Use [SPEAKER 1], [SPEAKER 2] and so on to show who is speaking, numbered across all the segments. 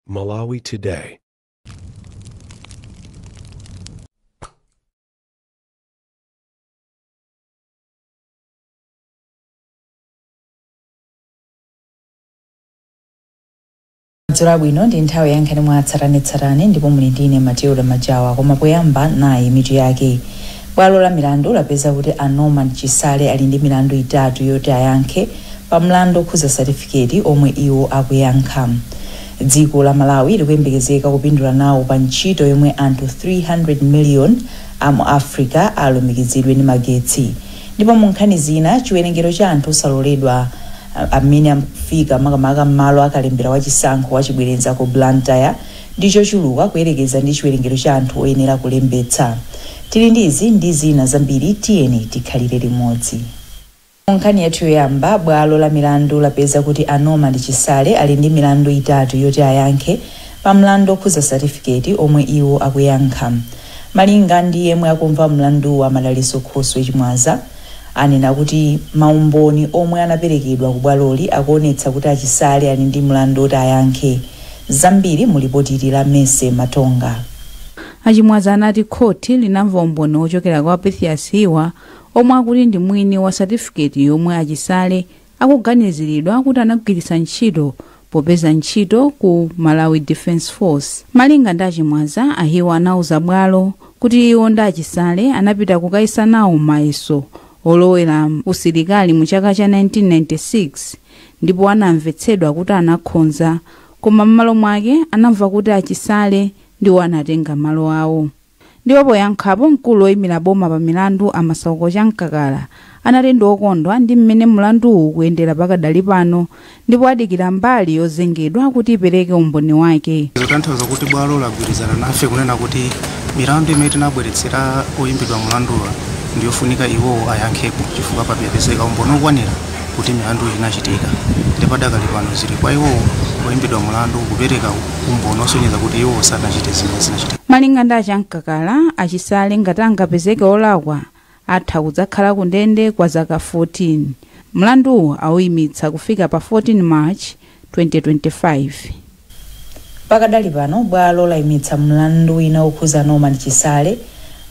[SPEAKER 1] Malawi
[SPEAKER 2] Today. madzulo abwino ndi nthawi ya nkhani mwa tsatanetsatane ndipo muli ndine Matilda Majawa koma poyamba nayi mitu yake Bwalo la milandu lapeza kuti a Norman Chisale ali ndi milandu itatu yoti ayankhe pa mlandu okhuza satifiketi omwe iwo akuyankha. Dziko la Malawi likuyembekezeka kupindula nawo pa ntchito yomwe anthu 300 million a mu Africa alumikizidwe ndi magetsi ndipo mu nkhani zina chiwerengero cha anthu osaloledwa amene afika makamaka m'malo a kalembera wa chisankho wachibwereza ku Blantyre ndi chochuluka kuyerekeza ndi chiwerengero cha anthu oyenera kulembetsa. Tili ndi izi ndi zina zambiri, tiyeni tikhalire limodzi. Mu nkhani yathu yoyamba, bwalo la milandu lapeza kuti a Norman Chisale ali ndi milandu itatu yoti ayankhe pa mlandu okhuza satifiketi omwe iwo akuyankha. Malinga ndi yemwe akumva mlanduwu a Madalitso Khoswe Chimwaza, anena kuti maumboni omwe anaperekedwa ku bwaloli akuonetsa kuti a Chisale ali ndi mlandu oti ayankhe. Zambiri mu lipoti ili la Mercy Matonga. A Chimwaza
[SPEAKER 3] anati khoti linamva umboni wochokera kwa Pythias Hiwa omwe akuti ndi mwini wa satifiketi yomwe a Chisale akuganiziridwa kuti anagwiritsa ntchito popeza ntchito ku Malawi Defence Force. Malinga ndi a Chimwaza, a Hiwa anauza bwalo kuti iwo ndi a Chisale anapita kukayesa nawo mayeso olowera usilikali mu chaka cha 1996. ndipo anamvetsedwa kuti anakhonza koma mmalo mwake anamva kuti a Chisale ndiwo anatenga malo awo. Ndipo poyankhapo mkulu oyimira boma pa milandu a Masauko Chamkakala anati ndi okondwa ndi mmene mlanduwu ukuyendera pakadali pano ndipo adikira mbali yozengedwa kuti ipereke umboni wake. Zotanthauza kuti
[SPEAKER 4] bwalo lagwirizana nafe kunena kuti milandu imene tinabweretsera oyimbidwa mlanduwa ndiyofunika iwowo ayankhepo chifukwa papezeka umboni okwanira. kuti milandu inachitika ndipo padakali pano zili kwa iwowo oyimbidwa mulandu kupereka umboni osonyeza kuti iwowo sanachite zimene zinachitika malinga ndi a
[SPEAKER 3] Chamkakala a Chisale ngati angapezeke olakwa atha kudzakhala ku ndende kwa zaka 14 mlanduwu awuyimitsa kufika pa 14 march 2025
[SPEAKER 2] Pakadali pano bwalo laimitsa mlandu wina wokhuza Norman Chisale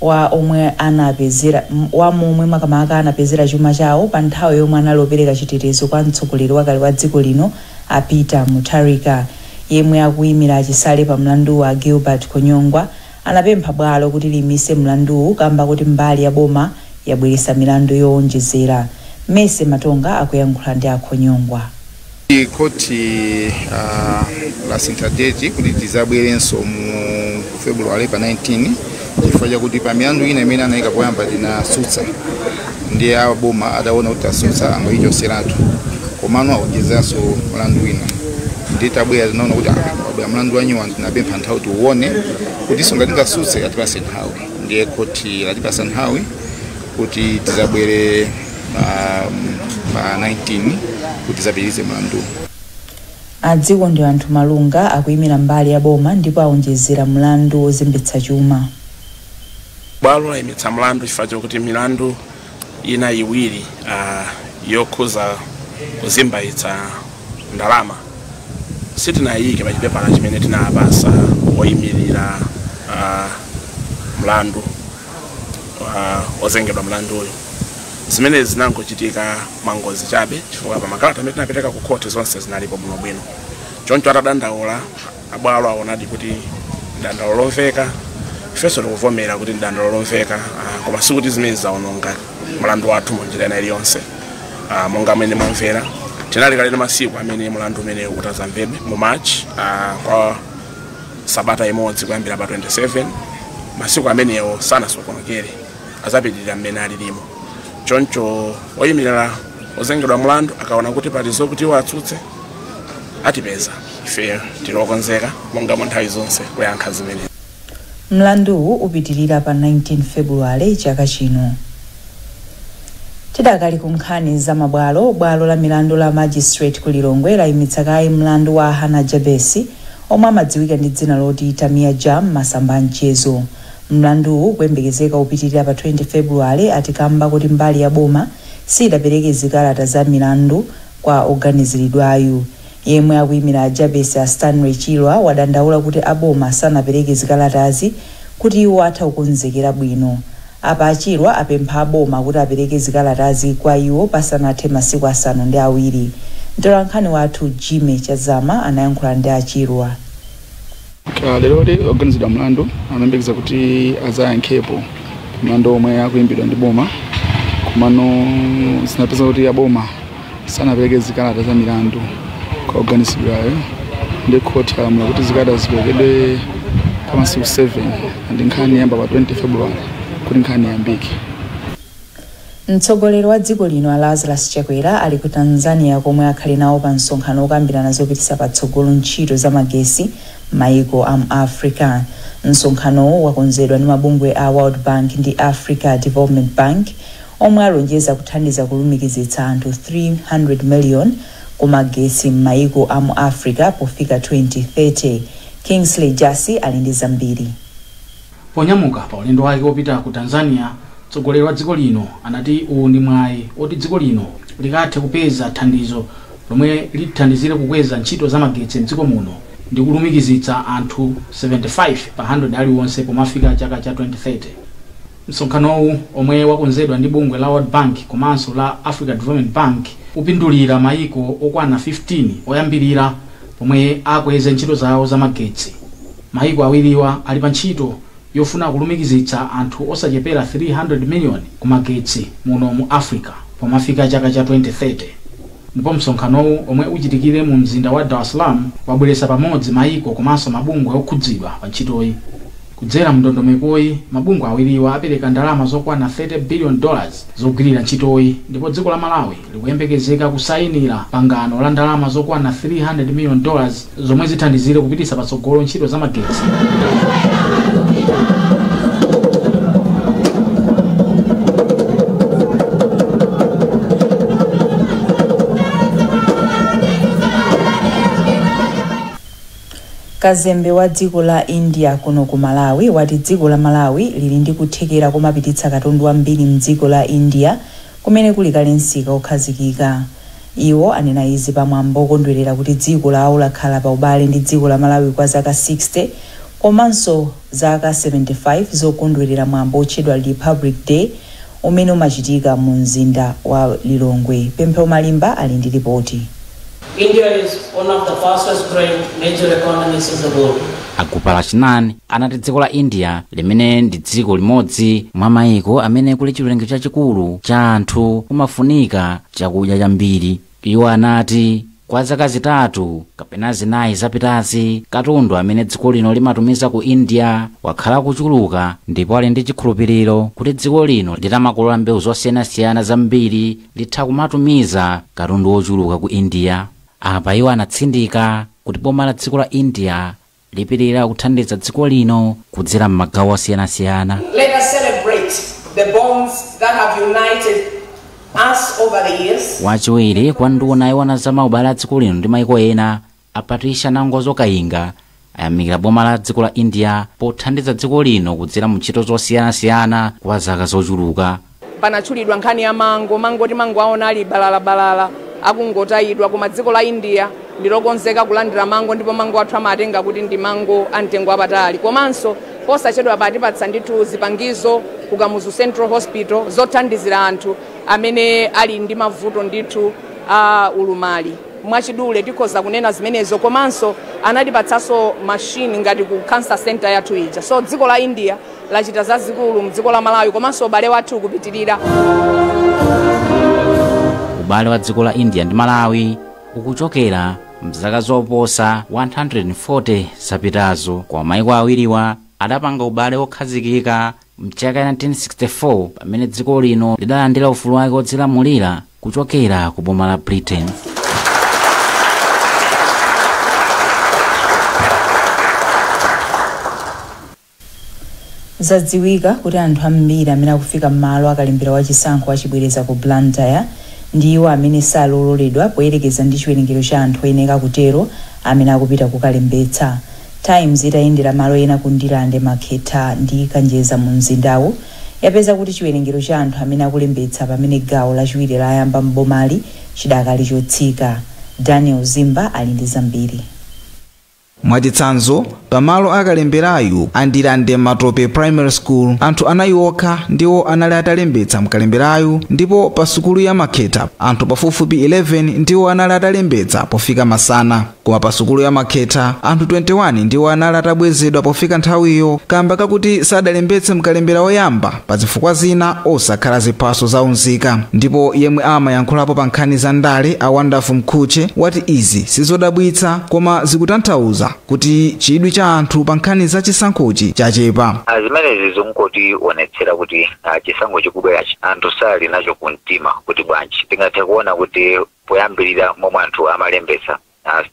[SPEAKER 2] wa omwe anapezera wa momwe makamaka anapezera chuma chawo pa nthawi yomwe anali opereka chitetezo kwa mtsogoleri wakale wa dziko lino a Peter Mutharika. Yemwe akuimira a Chisale pa mlanduwu a Gilbert Khonyongwa anapempha bwalo kuti liimitse mlanduwu kamba koti mbali ya boma yabweretsa milandu yoonjezera. Mercy Matonga akuyankhula ndi a Khonyongwa.
[SPEAKER 5] Khothi uh, lasintha deti kuti tizabwerenso mu February pa 19 chifukwa chakuti pa milandu ina imene anayika poyamba tinasutsa ndiye a boma ataona kuti tasutsa angoyichoseratu komano awonjezeranso mlandu wina ndiye titabwera tinaona kuti abwera mlandu wanyuwani tinapempha nthawi tiuone kutinso ngati tingasutse atipase nthawi ndiye khothi latipasa nthawi kuti tizabwere pa pa 19 kuti tizapitirize
[SPEAKER 2] mlandu a Dzikondianthu Malunga akuyimira mbali ya boma ndipo awonjezera mlandu wozembetsa chuma
[SPEAKER 6] bwalo layimitsa mlandu chifukwa chokuti milandu ina iwiri ah, yokhuza kuzembayitsa ndalama sitinayike pa chipepala chimene tinapasa oyimirira ah, mlandu wa ozengedwa mlanduyo zimenezi zinangochitika mwangozi chabe chifukwa pa makalata amene tinapereka ku khothi zonse zinalipo bwinobwino choncho atadandaula abwalo aonadi kuti ndi dandaulo lomveka ifenso tikuvomera kuti ndi dandaulo lomveka ah, koma sikuti zimene zaononga mlandu wathu mu njira ina iliyonse Ah, monga mmene mwamvera tinali kale ndi masiku amene mlandu umenewu utazamvedwe mu march ah, kwa sabata imodzi kuyambira pa 27 masiku amenewo sanasokonekere azapitirira mmene alilimo choncho oyimirira ozengedwa mlandu akaona kuti pali zokuti iwo atsutse atipeza ife tili okonzeka monga mu nthawi zonse kuyankha zimene mlanduwu
[SPEAKER 2] upitirira pa 19 febuluwale chaka chino Tidakali ku nkhani za mabwalo, bwalo la milandu la Magistrate ku Lilongwe layimitsa kaye mlandu wa a Hannah Jabesi omwe amadziwika ndi dzina loti Tamia Ja m'masamba a mchezo. Mlanduwu ukuyembekezeka upitilira pa 20 Febuluwale ati kamba kuti mbali ya boma siyidapereke zikalata za milandu kwa oganizilidwayu. Yemwe akuyimira a Jabesi a Stanley Chirwa wadandaula kuti a boma sanapereke zikalatazi kuti iwo atha kukonzekera bwino. Apa a Chirwa apempha a boma kuti apereke zikalatazi kwa iwo pasanathe masiku asanu ndi awiri. Mtolankhani wathu Jimmy Chazama anayankhula ndi a Chirwa.
[SPEAKER 1] Lerolo oganizidwa mlandu amayembekeza kuti azayankhepo pa mlandu omwe akuimbidwa ndi boma komano zinapezeka kuti a boma sanapereke zikalata za milandu kwa oganizidwayo ndiye khothi lalamula kuti zikalata ziperekedwe pa masiku 7 and nkhani iyamba pa 20 february kuti nkhani iyambike mtsogoleri
[SPEAKER 2] wa dziko lino a lazarus chakwera ali ku tanzania komwe akhale nawo pa msonkhano wokambirana zopititsa patsogolo ntchito za magetsi m'maiko a mu africa msonkhanowo wakonzedwa ndi mabungwe a world bank ndi africa development bank omwe alonjeza kuthandiza kulumikizitsa anthu 300 million ku magetsi m'maiko a mu Africa pofika 2030. Kingsley Jasi ali ndi zambiri. Ponyamuka
[SPEAKER 7] pa ulendo wake opita ku Tanzania, mtsogoleri wa dziko lino anati uwu ndi mwayi oti dziko lino likathe kupeza thandizo lomwe lithandizire kukweza ntchito za magetsi mdziko muno ndi kulumikizitsa anthu 75 pa 100 aliwonse pomafika chaka cha 2030. Msonkhanowu omwe wakonzedwa ndi bungwe la World Bank komanso la Africa Development Bank upindulira maiko okwana 15 oyambilira pomwe akweze ntchito zawo za magetsi. Maiko awiriwa ali pa ntchito yofuna kulumikizitsa anthu osachepera 300 million ku magetsi muno mu Africa pomafika chaka cha 2030. Ndipo msonkhanowu omwe uchitikire mu mzinda wa Dar es Salaam wabweretsa pamodzi maiko komanso mabungwe okhudzidwa pa ntchitoyi. Kudzera mu ndondomekoyi, mabungwe awiriwa apereka ndalama zokwana 30 billion dollars zogwilira ntchitoyi ndipo dziko la Malawi likuyembekezeka kusayinira pangano la ndalama zokwana 300 million dollars zomwe zithandizire kupititsa patsogolo ntchito za magetsi
[SPEAKER 2] Kazembe wa dziko la India kuno ku Malawi wati dziko la Malawi lili ndi kuthekera komapititsa katundu wambiri mdziko la India kumene kuli kale msika okhazikika. Iwo anena izi pa mwambo okondwelera kuti dziko lawo lakhala pa ubale ndi dziko la Malawi kwa zaka 60 komanso Zaka 75 zokondwerera mwambo wotchedwa Republic Day umene umachitika mu mzinda wa Lilongwe. Pemphero Malimba ali ndi lipoti. India
[SPEAKER 8] is one of the fastest growing major economies in the world. A Gopalakrishnan
[SPEAKER 9] anati dziko la India limene ndi dziko limodzi mwa maiko amene kuli chiwerengero chachikulu cha anthu kumafunika chakudya chambiri. Iwo anati, Kwa zaka zitatu kapena zinayi zapitazi, katundu amene dziko lino limatumiza ku India wakhala akuchuluka ndipo ali ndi chikhulupiriro kuti dziko lino litamakolola mbewu zosiyanasiyana zambiri litha kumatumiza katundu wochuluka ku India. Apa iwo anatsindika kuti boma la dziko la India lipitilira kuthandiza dziko lino kudzera m'magawo osiyanasiyana. Let us
[SPEAKER 8] celebrate the bonds that have united us over the years. Wachiwiri kwa nduna
[SPEAKER 9] yoona za maubale a dziko lino ndi maiko ena a Patricia Nangozo Kayinga ayamikira boma la dziko la India pothandiza dziko lino kudzera mu ntchito zosiyanasiyana kwa zaka zochuluka. Panatchulidwa nkhani
[SPEAKER 10] ya mango. Mango timangowaona ali balalabalala akungotayidwa, koma dziko la India ndi lokonzeka kulandira mango ndipo mango athu amawatenga kuti ndi mango a mtengo wapatali. Komanso posachedwapa atipatsa ndithu zipangizo ku Kamuzu Central Hospital zothandizira anthu amene ali ndi mavuto ndithu a ulumali. Mwachidule tikhoza kunena zimenezo komanso anatipatsanso machine ngati ku cancer centre yathu ija. So dziko la India lachita zazikulu mdziko la Malawi komanso ubale wathu
[SPEAKER 9] ukupitilira. Ubale wa dziko la India ndi Malawi ukuchokera mzaka zoposa 140 zapitazo koma maiko awiriwa adapanga ubale wokhazikika mchaka 1964 pamene dziko lino lidalandira ufulu wake wodzilamulira kuchokera ku boma la Britain.
[SPEAKER 2] Zadziwika kuti anthu ambiri amene akufika m'malo a kalembera wa chisankho wa chibwereza ku Blantyre ndi iwo amene sali ololedwa poyerekeza ndi chiwerengero cha anthu oyenera kutero amene akupita kukalembetsa. Times itayendera malo ena ku Ndirande, Makhetha ndi Kanjeza mu mzindawu yapeza kuti chiwerengero cha anthu amene akulembetsa pamene gawo lachiwiri layamba m'bomali chidakali chotsika. Daniel Zimba ali ndi zambiri. Mwachitsanzo,
[SPEAKER 11] pa malo a kalemberayu a Ndirande Matope Primary School, anthu anayi okha ndiwo anali atalembetsa mkalemberayu ndipo pa sukulu ya Makhetha anthu pafupifupi 11 ndiwo anali atalembetsa pofika masana. Koma pa sukulu ya Makhetha anthu 21 ndiwo anali atabwezedwa pofika nthawiyo kamba kakuti sadalembetse mkalembera woyamba. pa zifukwa zina osakhala ziphaso za unzika ndipo yemwe amayankhulapo pa nkhani za ndale a wonderful mkhutche wati izi sizodabwitsa koma zikutanthauza kuti chidwi cha anthu pa nkhani za chisankhochi chachepa Ah,
[SPEAKER 12] zimenezi zikungotionetsera kuti ah, chisankho chikubwerachi anthu sali nacho kumtima kuti bwanji tingathe kuona kuti poyambirira momwe anthu amalembetsa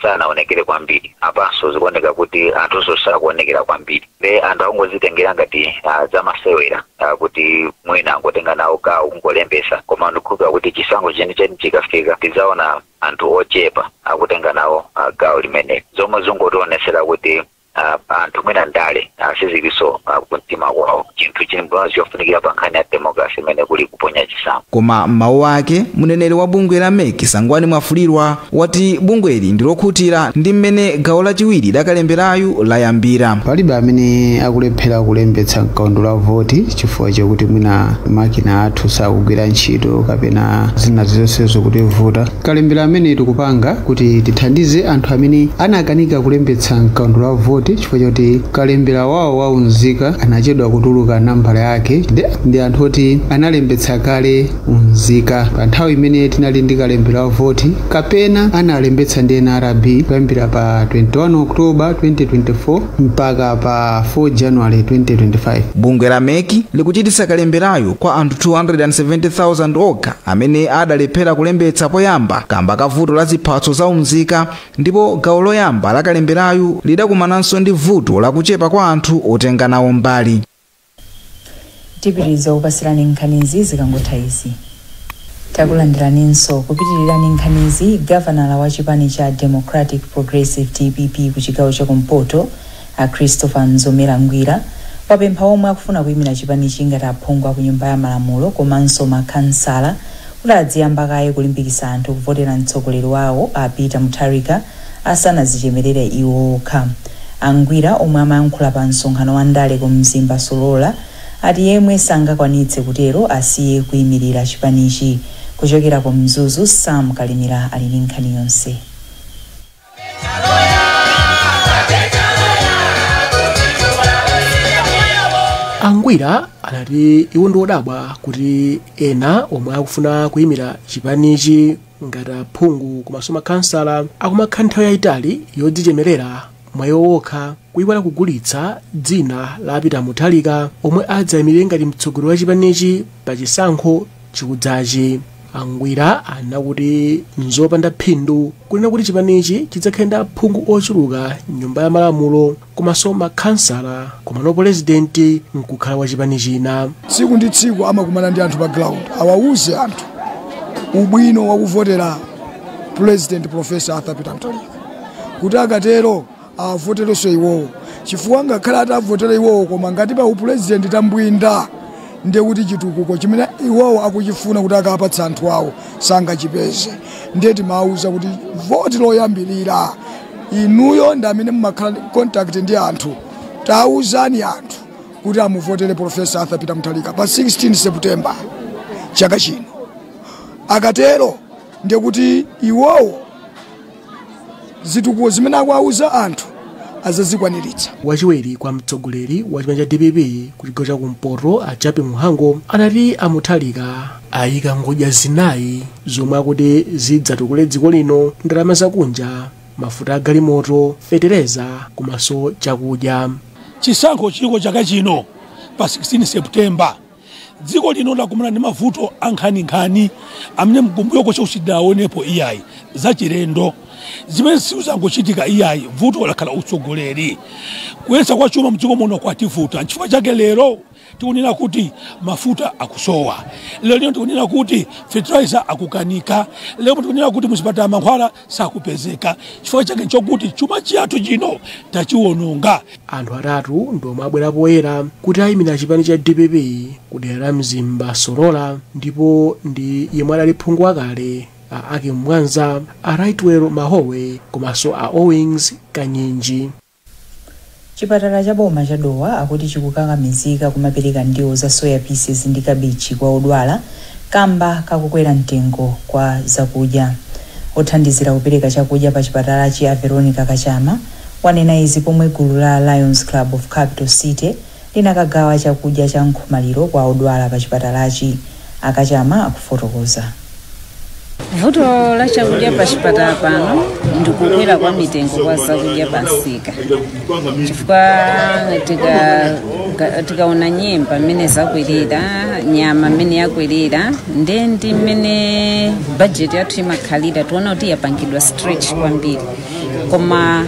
[SPEAKER 12] sanaonekere kwambiri apanso zikuoneka kuti anthunso sakuonekera kwambiri nde anthu akungozitengera ngati ah, zamasewera ah, kuti mwina angotenga nawo gawo kungolembesa koma ndikukhulupirira kuti chisankho chenicheni chikafika tidzaona anthu ochepa akutenga nawo ah, gawo limeneli zomwe zingotionesera kuti ah, anthu mwina ndale ah, siziliso ah, kumtima kwawo chinthu chimodzi chofunikira pa nkhani ya democracy imene kuli kuponya chisankho koma m'mawu ake
[SPEAKER 11] mneneri wa bungwe la mec sangwani mwafulirwa wati bungweli ndilokhutira ndi mmene gawo lachiwiri lakalemberayu layambira palibe
[SPEAKER 13] amene akulephera kulembetsa mkaundula wa voti chifukwa chakuti mwina makina athu sakugwira ntchito kapena zina zonsezo zikutivuta Kalembera ameneyi tikupanga kuti tithandize anthu amene anakanika kulembetsa m'kaundula wa voti chifukwa chakuti kalembera wawo wa unzika anachedwa kutuluka nambala yake, ndi anthu oti analembetsa kale unzika pa nthawi imene tinali ndi kalembera wa voti kapena analembetsa ndi NRB kuyambira pa 21 Oktoba 2024 mpaka pa 4 January 2025. Bungwe la mec
[SPEAKER 11] likuchititsa kalemberayu kwa anthu 270,000 okha amene adalephera kulembetsa poyamba kamba ka vuto la ziphatso za umzika ndipo gawo loyamba la kalemberayu lidakumananso ndi vuto la kuchepa kwa anthu otenga nawo mbali.
[SPEAKER 2] Tipitiriza kupatsirani nkhanizi zikangotha izi. Takulandiraninso. Kupitiriza ndi nkhanizi, gavanala wa chipani cha Democratic Progressive, dpp, ku chigawo cha kumpoto, A Christopher Mzomera Ngwira wapempha omwe akufuna kuyimira chipanichi ngati aphungu a ku Nyumba ya Malamulo komanso ma Khansala kuti adziyamba kaye kulimbikitsa anthu kuvotera mtsogoleri wawo a Peter Mutharika asanazichemerere iwo okha. A Ngwira omwe amayankhula pa msonkhano wa ndale ku Mzimba Solola ati yemwe sangakwanitse kutero asiye kuyimilira chipanichi. Kuchokera ku Mzuzu, Sam Kalimira ali ndi nkhani yonse.
[SPEAKER 14] angwira anati iwo ndi odabwa kuti ena omwe akufuna kuyimira chipanichi ngati aphungu komanso makhansala akumakhala nthawi yayitali yodzichemerera mwa iwo wokha kuyiwala kugulitsa dzina la a Peter Mutharika omwe adzayimirire ngati mtsogoleri wa chipanichi pa chisankho chikudzachi A Ngwira anati nzopanda phindu kunena kuti chipanichi chidzakhala ndi aphungu ochuluka m'nyumba ya malamulo komanso makhansala komano pulezidenti nkukhala wa chipani china. tsiku ndi
[SPEAKER 15] tsiku amakumana ndi anthu pa ground awauze anthu ubwino wakuvotera president professor arthur peter mutharika kuti akatero avoterenso iwowo chifukwa ngakhale atavotera iwowo koma ngati pa upulezidenti tambwinda ndiye kuti chitukuko chimene iwowo akuchifuna kuti akapatsa anthu awo sangachipeze ndiye timawuza kuti voti loyambirira inuyo ndi amene mumakhala contact ndi anthu tawuzani anthu kuti amuvotere profesa arthur peter mutharika pa 16 september chaka chino akatero ndiye kuti iwowo zitukuko zimene akuwauza anthu azazikwaniritsa wachiwiri
[SPEAKER 14] kwa mtsogoleri wa chipani cha dpp ku chigawo cha kumpoto a Jappie Mhango anati a mutharika ayika ngodya zinayi zomwe akuti zidzatukule dziko lino ndalama zakunja mafuta a galimoto fetereza komanso chakudya chisankho
[SPEAKER 16] chiliko chaka chino pa 16 septemba Dziko lino lakumana ndi mavuto ankhaninkhani amene mkumbuyoko chonse sitidawaonepo iyayi, zachilendo. Zimenezi sizangochitika iyayi, vuto lakhala utsogoleri. Kuyendetsa kwa chuma mdziko muno kwativuta, nchifukwa chake lero tikunena kuti mafuta akusowa, lero lino tikunena kuti fertilizer akukanika, lero tikunena kuti muzipatala mankhwala sakupezeka chifukwa chake chokuti chuma chathu chino tachiwononga anthu atatu
[SPEAKER 14] ndiomwe abwera poyera kuti ayimira chipani cha dpp ku dera la mzimba solola ndipo ndi yemwe adali phungu wakale a akim mwanza a rightwell mahowe komanso a owings kanyinji
[SPEAKER 2] Chipatala cha boma cha Dowa akuti chikukakamizika kumapereka ndiwo za soya pieces ndi kabichi kwa odwala kamba ka kukwera mtengo kwa zakudya. Othandizira kupereka chakudya pa chipatalachi a Veronica Kachama wanena izi pomwe gulu la Lions Club of Capital City, linakagawa chakudya cha nkhomaliro kwa odwala pa chipatalachi, a Kachama
[SPEAKER 17] akufotokoza. Vuto la chakudya pa chipatala pano ndi kukwera kwa mitengo kwa zakudya pa msika chifukwa tikaona nyemba mmene zakwerera nyama mmene yakwerera nde ndi mmene bajeti yathu imakhalira tiona kuti yapangidwa stretch kwambiri koma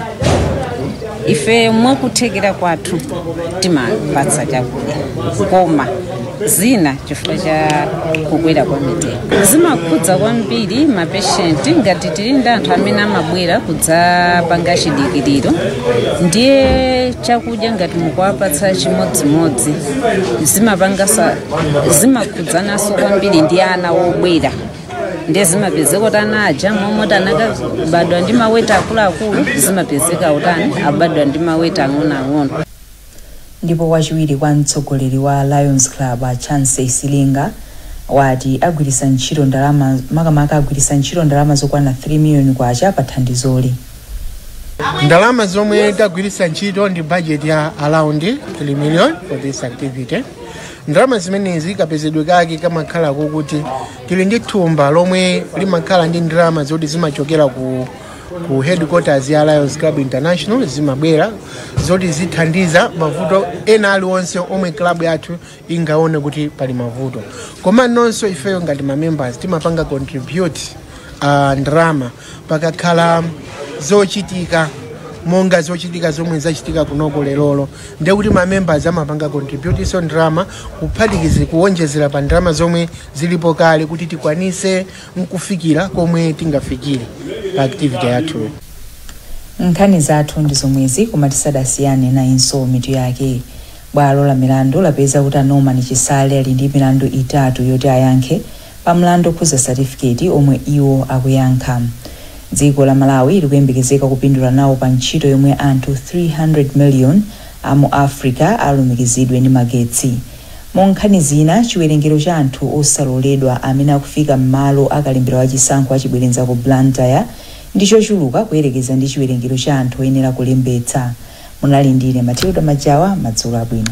[SPEAKER 17] ife mwakuthekera kwathu timapatsa chakudya koma zina chifukwa cha kukwera kwa mitengo zimakhudza kwambiri mapeshenti ngati tili ndi anthu amene amabwera kudzapanga chidikiriro ndiye chakudya ngati mukuwapatsa chimodzimodzi zimapanga zimakhudzananso kwambiri ndi ana obwera ndiye zimapezeka kuti ana aja momwe anakabadwa ndi maweti akuluakulu zimapezeka kuti abadwa ndi maweti ang'onoang'ono ndipo
[SPEAKER 2] wachiwiri kwa mtsogoleri wa lions club a chance silinga wati agwiritsa ntchito ndalama makamaka agwiritsa ntchito ndalama zokwana 3 miliyoni kwacha pa
[SPEAKER 18] thandizoli ndalama zomwe tagwiritsa ntchito ndi budget ya around 3 million for this activity ndalama zimenezi kapezedwe kake kamakhala kokuti tili ndi thumba lomwe limakhala ndi ndalama zoti zimachokera ku ku headquarters ya Lions Club International zimabwera zoti zithandiza mavuto ena aliwonse omwe club yathu ingaone kuti pali mavuto koma nonso ifeyo ngati ma members timapanga contribute uh, ndalama pakakhala zochitika monga zochitika zomwe zachitika kunoko lerolo ndekuti mamembers amapanga contribute so ndalama kuphatikiza kuwonjezera pa ndalama zomwe zilipo kale kuti tikwanise nkufikira komwe tingafikire pa activity
[SPEAKER 2] yathu nkhani zathu ndi zomwezi koma tisadasiyane nayinso mitu yake bwalo la milandu lapeza kuti a norman chisale ali ndi milandu itatu yoti ayankhe pa mlandu okhuza satifiketi omwe iwo akuyankha. Dziko la Malawi likuyembekezeka kupindula nawo pa ntchito yomwe anthu 300 million a mu Africa alumikizidwe ndi magetsi. Mwa nkhani zina, chiwerengero cha anthu osaloledwa amene akufika m'malo a kalembera wa chisankho a chibwereza ku Blantyre ndi chochuluka kuyerekeza ndi chiwerengero cha anthu oyenera kulembetsa. Munali ndine Matilda Majawa, madzulo abwino.